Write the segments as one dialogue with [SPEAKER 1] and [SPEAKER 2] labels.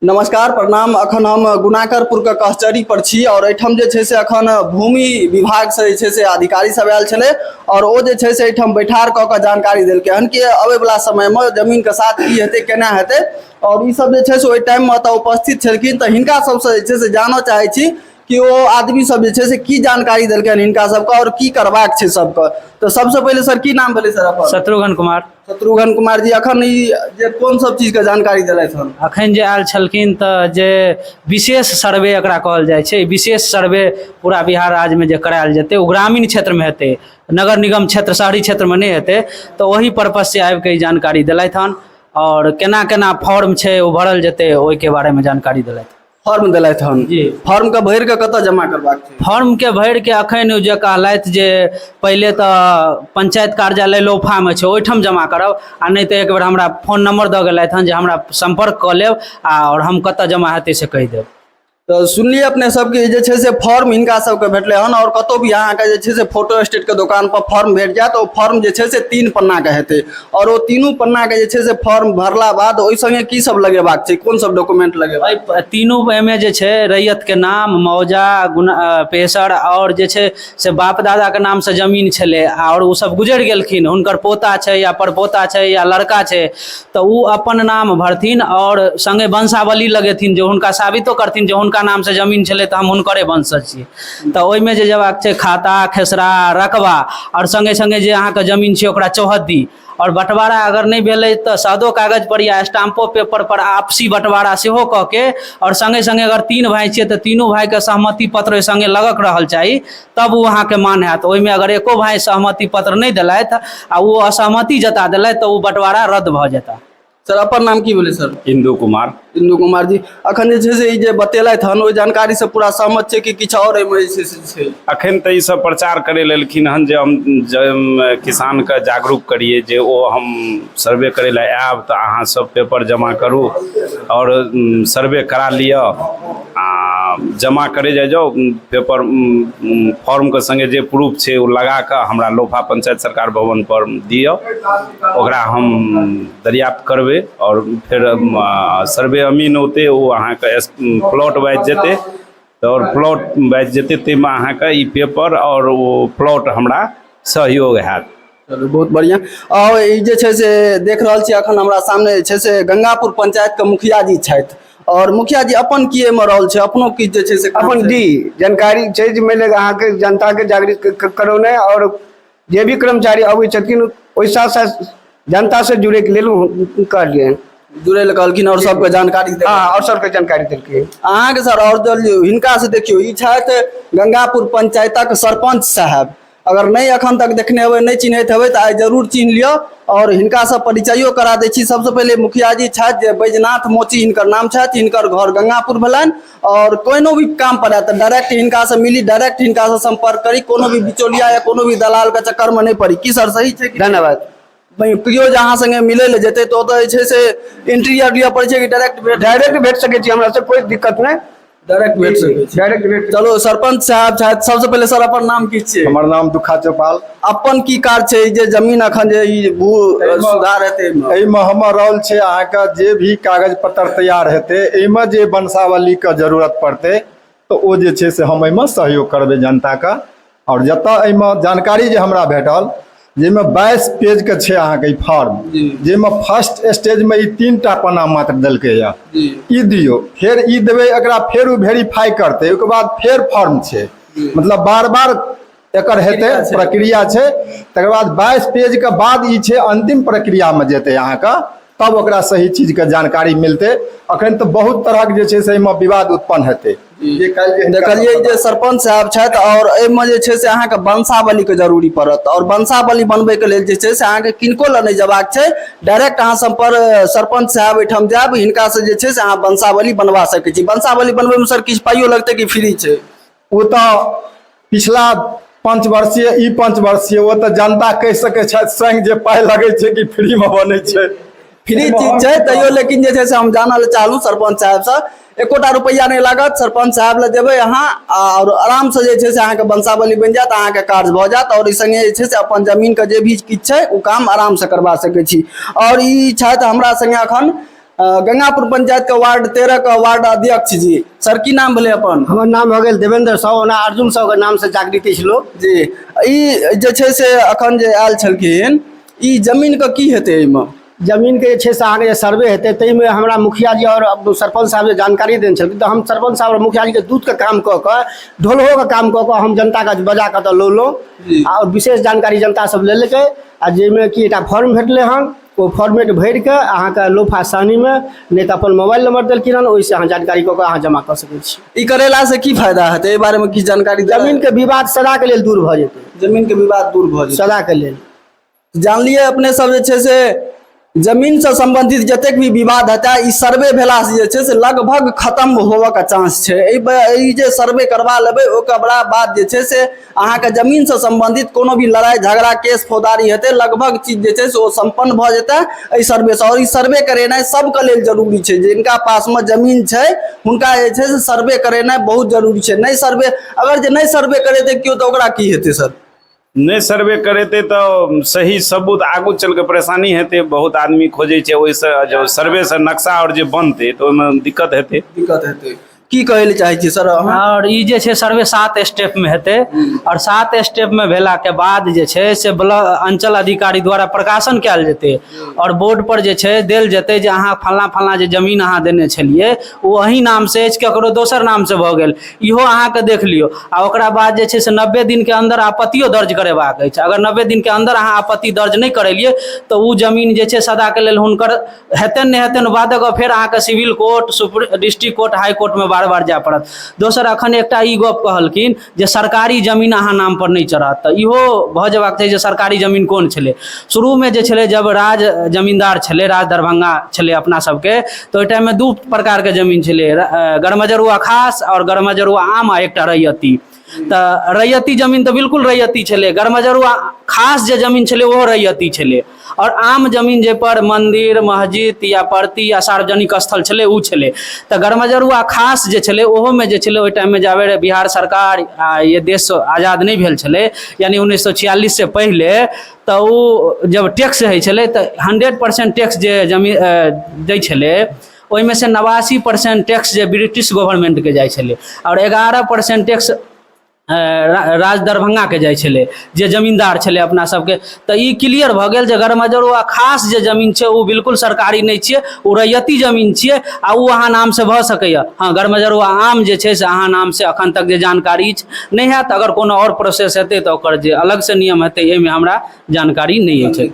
[SPEAKER 1] नमस्कार प्रणाम अखन हम गुनाकरपुर के कहचरी पर छी और एठाम जे छै से अखन भूमि विभाग से जे छै से अधिकारी सब आयल छले और ओ जे छै से एठाम बैठार क के जानकारी देलके हन कि अबे वाला समय में जमीन के साथ की हेते केना हेते और ई सब जे छै से ओहि टाइम में तऽ उपस्थित छलखिन तऽ हिनका सबसँ जे छै से जानऽ चाहै छी कि ओ आदमी सब जे छै से की जानकारी देलके हन हिनका सबके और की करबाक छै सबके तऽ सबसँ पहिले सर की नाम भेलै सर अपन शत्रुघ्न कुमार शत्रुघ्न कुमार जी अखन ई जे कोन सब चीज के जानकारी देलथि हन अखन जे आयल छलखिन तऽ जे विशेष सर्वे एकरा कहल जाइ छै विशेष सर्वे पूरा बिहार राज्यमे जे करायल जेतै ओ ग्रामीण क्षेत्रमे हेतै नगर निगम क्षेत्र शहरी क्षेत्रमे नहि हेतै तऽ ओहि पर्पज से आबि कऽ ई जानकारी देलथि हन आओर केना केना फॉर्म छै ओ भरल जेतै ओहिके बारेमे जानकारी देलथि फॉर्म देलथि हन जी। फॉर्म के भरि के कतऽ जमा करबाक छै फॉर्म के भरि के अखन ओ जे कहलथि जे पहिले तऽ पंचायत कार्यालय लोफा मे छै ओहिठाम जमा करब आ नहि तऽ एक बेर हमरा फोन नंबर दऽ गेलथि हन जे हमरा संपर्क कऽ लेब आ आओर हम कतऽ जमा हेतै से कहि देब तऽ सुनलियै अपने सबके जे छै से फॉर्म हिनका सबके भेटलै हन आओर कतौ भी अहाँके जे छै से फोटो स्टेट के दोकान पर फॉर्म भेट जायत ओ फॉर्म जे छै से तीन पन्ना के हेतै आओर ओ तीनू पन्नाके जे छै से फॉर्म भरला बाद ओहि सङ्गे की सब लगेबाक छै कोन सब डॉक्यूमेंट लगेबाक एहि प- तीनू एहिमे जे छै रैयतके नाम मौजा गुना अ, पेशर आओर जे छै से बाप दादाके नामसँ जमीन छलै आओर ओ सब गुजरि गेलखिन हुनकर पोता छै या परपोता छै या लड़का छै तऽ ओ अपन नाम भरथिन आओर सङ्गे वंशावली लगेथिन जे हुनका साबितो करथिन जे हुनका नामसँ जमीन छलै तऽ हम हुनकरे वंशज छी तऽ ओहिमे जे जयबाक छै खाता खेसरा रकबा आओर सङ्गे सङ्गे जे अहाँके जमीन छै ओकरा चौहद्दी आओर बँटवारा अगर नहि भेलै तऽ सादो कागजपर या स्टाम्पो पेपरपर आपसी बँटवारा सेहो कऽ के आओर सङ्गे सङ्गे अगर तीन भाय छियै तऽ तीनू भायके सहमति पत्र ओहि सङ्गे लगक रहल चाही तब ओ अहाँके मान हैत ओहिमे अगर एको भाय सहमति पत्र नहि देलथि आ ओ असहमति जता देलथि तऽ ओ बँटवारा रद्द भऽ जेतह सर अपन नाम की भेलै सर इंदू कुमार इंदू कुमार जी अखन जे छै से ई जे बतेलथि हन ओहि जानकारी से पूरा सहमत छै कि किछु आओर एहिमे जे छै से छै अखन तऽ ई सब प्रचार करे लेलखिन हन जे हम जे हम किसान के जागरूक करिए जे ओ हम सर्वे करे लए आयब तऽ अहाँ सब पेपर जमा करू और उम, सर्वे करा लिअ आ जमा करे जाइ जाउ उम, पेपर उम, उम, फॉर्म के संगे जे प्रूफ छै ओ लगा कऽ हमरा लोफा पंचायत सरकार भवन पर दिअ ओकरा हम दर्याप्त करबै आओर फेर सर्वे अमीन औतै ओ अहाँके प्लॉट वाइज जेतै आओर प्लॉट वाइज जेतै ताहिमे अहाँके ई पेपर आओर ओ प्लॉट हमरा सहयोग हैत चलू बहुत बढ़िआँ आओर ई जे छै से देख रहल छी एखन हमरा सामने जे छै से गंगापुर पंचायतके मुखिया जी छथि आओर मुखिया जी अपन की एहिमे रहल छै अपनो किछु जे छै से अपन डी जानकारी छै जे मानि लिअ अहाँके जनताके जागृत करौनाइ आओर जे भी कर्मचारी अबै छथिन ओहि साथ साथ जनता से जुड़े के लेल कहलियै जुड़े लए कहलखिन आओर सबके जानकारी देलखिन। हाँ और सबके जानकारी देलकै अहाँके सर आओर दल हिनका से देखियौ ई छथि गंगापुर पंचायतक सरपंच साहब अगर नहि अखन तक देखने हेबै नहि चिन्हैत हेबै तऽ आइ जरूर चिन्ह लिअ आओर हिनकासँ परिचयो करा दै छी सबसँ पहिले मुखिया जी छथि जे बैजनाथ मोची हिनकर नाम छथि हिनकर घर गंगापुर भेलनि आओर कोनो भी काम पर आयत तऽ डायरेक्ट हिनका से मिली डायरेक्ट हिनका से संपर्क करी कोनो भी बिचौलिया या कोनो भी दलाल के चक्कर में नहि पड़ी की सर सही छै कि धन्यवाद भाई केओ जे अहाँ संगे मिलै लए जेतै तऽ ओतऽ जे छै से एंट्री आर लिअ पड़ै छै कि डायरेक्ट भेट डायरेक्ट भेट सकै छी हमरा से कोई दिक्कत नहीं डायरेक्ट भेट सकै छी डायरेक्ट भेट चलो सरपंच साहब छथि सबसे पहिले सर अपन नाम की छियै हमर नाम दुखा चौपाल अपन की काज छै जे जमीन अखन जे ई भू सुधार हेतै एहिमे हमर रोल छै अहाँके जे भी कागज पत्र तैयार हेतै एहिमे जे वंशावलीके जरूरत पड़तै तऽ ओ जे छै से हम एहिमे सहयोग करबै जनताके आओर जतऽ एहिमे जानकारी जे हमरा भेटल जाहिमे बाईस पेजके छै अहाँके ई फॉर्म जाहिमे फर्स्ट स्टेजमे ई तीन टा पन्ना मात्र देलकै यऽ ई दियौ फेर ई देबै एकरा फेर ओ वेरीफाई करतै ओहिके बाद फेर फॉर्म छै मतलब बार बार एकर हेतै प्रक्रिया छै तकर बाद बाईस पेज के बाद ई छै अंतिम प्रक्रिया में जेतै अहाँके तब ओकरा सही चीज के जानकारी मिलतै अखन तऽ बहुत तरहक जे छै से एहिमे विवाद उत्पन्न हेतै जे काल्हि जे हिनका- देखलियै जे सरपंच साहब छथि आओर एहिमे जे छै से अहाँके वंशावलीके जरूरी पड़त आओर वंशावली बनबैके लेल जे छै से अहाँके किनको लग नहि जयबाक छै डायरेक्ट अहाँ सम्पर सरपंच साहब ओहिठाम जायब हिनकासँ जे छै से अहाँ वंशावली बनबा सकै छी वंशावली बनबैमे सर किछु पाइयो लगतै कि फ्री छै ओ तऽ पिछला पाँच वर्षीय ई पाँच वर्षीय ओ तऽ जनता कहि सकैत छथि स्वयं जे पाइ लगैत छै कि फ्रीमे बनैत छै फ्री चीज छै तैयो लेकिन जे छै से हम जानऽ लए चाहलहुँ सरपञ्च साहबसँ एकोटा रुपैआ नहि लागत सरपञ्च साहब लए देबै अहाँ आओर आरामसँ जे छै से अहाँके वंशावली बनि जायत अहाँके काज भऽ जायत आओर ई सङ्गे जे छै से अपन जमीनके जे भी किछु छै ओ काम आरामसँ करबा सकै छी आओर ई छथि हमरा सङ्गे एखन गंगापुर पंचायत के वार्ड तेरह के वार्ड अध्यक्ष जी सर की नाम भेलै अपन हमर नाम भऽ गेल देवेंद्र साव ओना अर्जुन साव के नाम से जागृति छै लोक जी ई जे छै से अखन जे आयल छलखिन ई जमीन के की हेतै एहिमे जमीन के जे छै से अहाँके जे सर्वे हेतै ताहिमे हमरा मुखिया जी आओर अब सरपंच साहब जे जानकारी देने छलखिन तऽ हम सरपंच साहब आओर मुखिया जी के दूध के काम कऽ कऽ ढोलहो के काम कऽ कऽ हम जनता के बजा कऽ तऽ लौलहुँ जी। आओर विशेष जानकारी जनता सब लेलकै आ जाहिमे कि एकटा फॉर्म भेटलै हन ओ फॉर्मेट भरि कऽ अहाँके लोफा सानीमे नहि तऽ अपन मोबाइल नंबर देलखिन हन ओहिसँ अहाँ जानकारी कऽ कऽ अहाँ जमा कऽ सकैत छी ई करेला से की फायदा हेतै एहि बारे में किछु जानकारी देबै? जमीन के विवाद सदा के लेल दूर भऽ जेतै जमीन के विवाद दूर भऽ जेतै सदा के लेल जानलियै अपने सब जे छै से जमीन से संबंधित जतेक भी विवाद हेतै ई सर्वे भेला से जे छै से लगभग खत्म होबऽ के चांस छै एहि ब- ई जे सर्वे करबा लेबै ओकरा बाद जे छै से अहाँके जमीनसँ सम्बन्धित कोनो भी लड़ाइ झगड़ा केस फौदारी हेतै लगभग चीज जे छै से ओ सम्पन्न भऽ जेतै एहि सर्वेसँ आओर ई सर्वे करेनाइ सभके लेल जरूरी छै जिनका पासमे जमीन छै हुनका जे छै से सर्वे करेनाइ बहुत जरूरी छै नहि सर्वे अगर जे नहि सर्वे करेतै केओ तऽ ओकरा की हेतै सर नहि सर्वे करेतै तऽ सही सबूत आगू चलि कऽ परेशानी हेतै बहुत आदमी खोजै छै ओहिसँ सर्वेसँ नक्शा आओर जे बनतै तऽ ओहिमे दिक्कत हेतै दिक्कत हेतै की कहै लए चाहै छियै सर अहाँ आओर ई जे छै सर्वे सात स्टेपमे हेतै आओर सात स्टेपमे भेलाके बाद जे छै से ब्लॉक अञ्चल अधिकारी द्वारा प्रकाशन कयल जेतै आओर बोर्डपर जे छै देल जेतै जे अहाँ फल्लाँ फल्लाँ जे जमीन अहाँ देने छलियै ओ अहीँ नामसँ अछि ककरो दोसर नामसँ भऽ गेल इहो अहाँके देख लियौ आ ओकरा बाद जे छै से नब्बे दिनके अन्दर आपत्तियो दर्ज करेबाक अछि अगर नब्बे दिनके अन्दर अहाँ आपत्ति दर्ज नहि करेलियै तऽ ओ जमीन जे छै सदाके लेल हुनकर हेतनि नहि हेतनि बादक गप फेर अहाँके civil court supreme district court high कोर्टमे बार बार जाय पड़त दोसर अखन एकटा ई गप कहलखिन जे सरकारी जमीन अहाँ नाम पर नहि चढ़त तऽ इहो भऽ जेबाक चाही जे सरकारी जमीन कोन छलै शुरूमे जे छलै जब राज जमींदार छलै राज दरभंगा छलै अपना सबके तऽ ओहि टाइममे दू प्रकारके जमीन छलै गरमजरुआ खास आओर गरमजरुआ आम आ एकटा रैयती तऽ रैयती जमीन तऽ बिल्कुल रैयती छलै गरमजरुआ खास जे जमीन छलै ओहो रैयती छलै आओर आम जमीन जाहिपर मन्दिर मस्जिद या परती या सार्वजनिक स्थल छलै ओ छलै तऽ गरमजरुआ खास जे छलै ओहोमे जे छलै ओहि टाइममे जाबे रहै बिहार सरकार आ ये देश आजाद नहि भेल छलै यानि उन्नैस सए छियालिससँ पहिले तऽ ओ जब टैक्स होइ छलै तऽ हंड्रेड परसेंट टैक्स जे जमीन दै छलै ओहिमे से नवासी परसेंट टैक्स जे ब्रिटिश गवर्नमेंटके जाइ छलै आओर एगारह परसेंट टैक्स राज दरभंगाके जाइ छलै जे जमींदार छलै अपना सबके तऽ ई क्लियर भऽ गेल जे गरमजरुआ खास जे जमीन छै ओ बिल्कुल सरकारी नहि छियै ओ रैयती जमीन छियै आ ओ अहाँ नाम से भऽ सकैया हँ गरमजरुआ आम जे छै से अहाँ नाम से अखन तक जे जानकारी अछि नहि हैत अगर कोनो आओर प्रोसेस हेतै तऽ ओकर जे अलग से नियम हेतै एहिमे हमरा जानकारी नहि अछि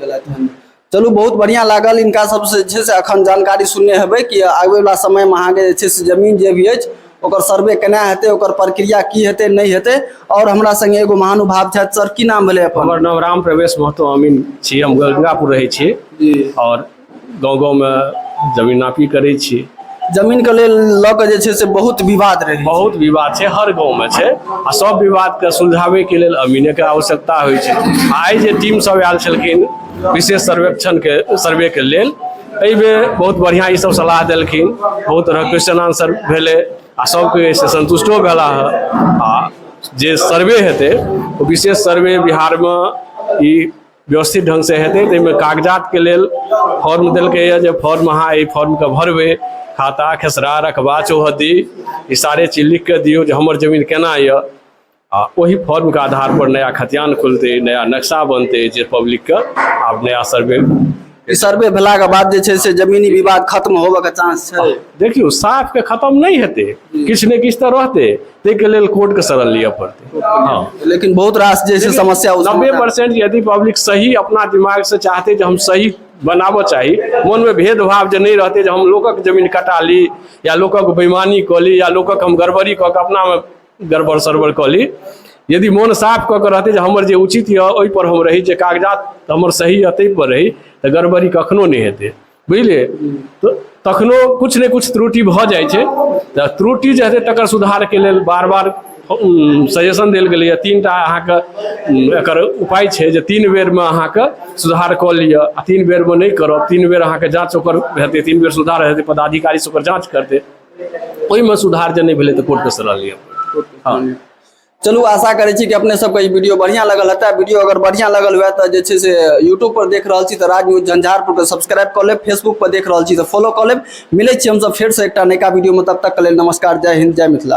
[SPEAKER 1] चलू बहुत बढ़िया लागल इनका सबसँ जे छै से अखन जानकारी सुनने हेबै कि आबैवला समयमे अहाँके जे छै से जमीन जे भी अछि ओकर सर्वे केना हेतै ओकर प्रक्रिया की हेतै नहि हेतै आओर हमरा संगे एगो महानुभाव छथि सर की नाम भेलै अपन हमर नाम राम प्रवेश महतो अमीन छी हम गंगापुर रहै छी जी आओर गाँव गाँवमे जमीन नापी करै छी जमीनके लेल लऽ कऽ जे छै से बहुत विवाद रहै बहुत विवाद छै हर गाँवमे छै आ सब विवादके सुलझाबैके लेल अमीनेके आवश्यकता होइ छै आइ जे टीम सब आयल छलखिन विशेष सर्वेक्षण के सर्वे के लेल एहि बेर बहुत बढ़िया ई सब सलाह देलखिन बहुत तरह क्वेश्चन आंसर भेले आ सब कोई से संतुष्टो भेला है आ जे सर्वे हेतै ओ विशेष सर्वे बिहार में ई व्यवस्थित ढंग से हेतै ताहिमे कागजात के लेल फॉर्म देलकै यऽ जे फॉर्म अहाँ एहि फॉर्म के भरबै खाता खेसरा रकबा चौहद्दी ई सारे चीज लिख के दियौ जे हमर जमीन केना यऽ आ ओहि फॉर्मके आधारपर नया खतियान खुलतै नया नक्शा बनतै जे पब्लिकके आब नया सर्वे ई सर्वे भेलाके बाद जे छै से जमीनी विवाद खत्म होबऽके चांस छै देखियौ साफके खत्म नहि हेतै किछु ने किछु तऽ रहतै ताहिके लेल कोर्टके शरण लिअ पड़तै हँ लेकिन बहुत रास जे छै समस्या उत्पन्न नब्बे परसेंट यदि पब्लिक सही अपना दिमाग से चाहते जे हम सही बनाबऽ चाही मनमे भेदभाव जे नहि रहतै जे हम लोकक जमीन कटा ली या लोकक बेईमानी कऽ ली या लोकक हम गड़बड़ी कऽ कऽ अपनामे गड़बड़ सड़बड़ कऽ ली यदि मोन साफ कऽ कऽ रहतै जे हमर जे उचित यऽ ओहिपर हम रही जे कागजात हमर सही यऽ ताहिपर रही तऽ गड़बड़ी कखनो नहि हेतै बुझलियै तऽ तखनो किछु ने किछु त्रुटि भऽ जाइ छै तऽ त्रुटि जे हेतै तकर सुधारके लेल बार बार सजेशन देल गेलैए तीन टा अहाँके एकर उपाय छै जे तीन बेरमे अहाँके सुधार कऽ लिअ आ तीन बेरमे नहि करब तीन बेर अहाँके जाँच ओकर हेतै तीन बेर सुधार हेतै पदाधिकारीसँ ओकर जाँच करतै ओहिमे सुधार जे नहि भेलै तऽ कोर्ट कसँ रहल यऽ हँ चलू आशा करै छी कि अपने सबके ई वीडियो बढ़िया लगल हेतै वीडियो अगर बढ़िया लगल हुए तऽ जे छै से यूट्यूब पर देख रहल छी तऽ राज न्यूज झंझारपुर के सब्सक्राइब कऽ लेब फेसबुक पर देख रहल छी तऽ फॉलो कऽ लेब मिलै छी हमसब फेरसँ एकटा नयका वीडियोमे तब तक के लेल नमस्कार जय हिन्द जय मिथिला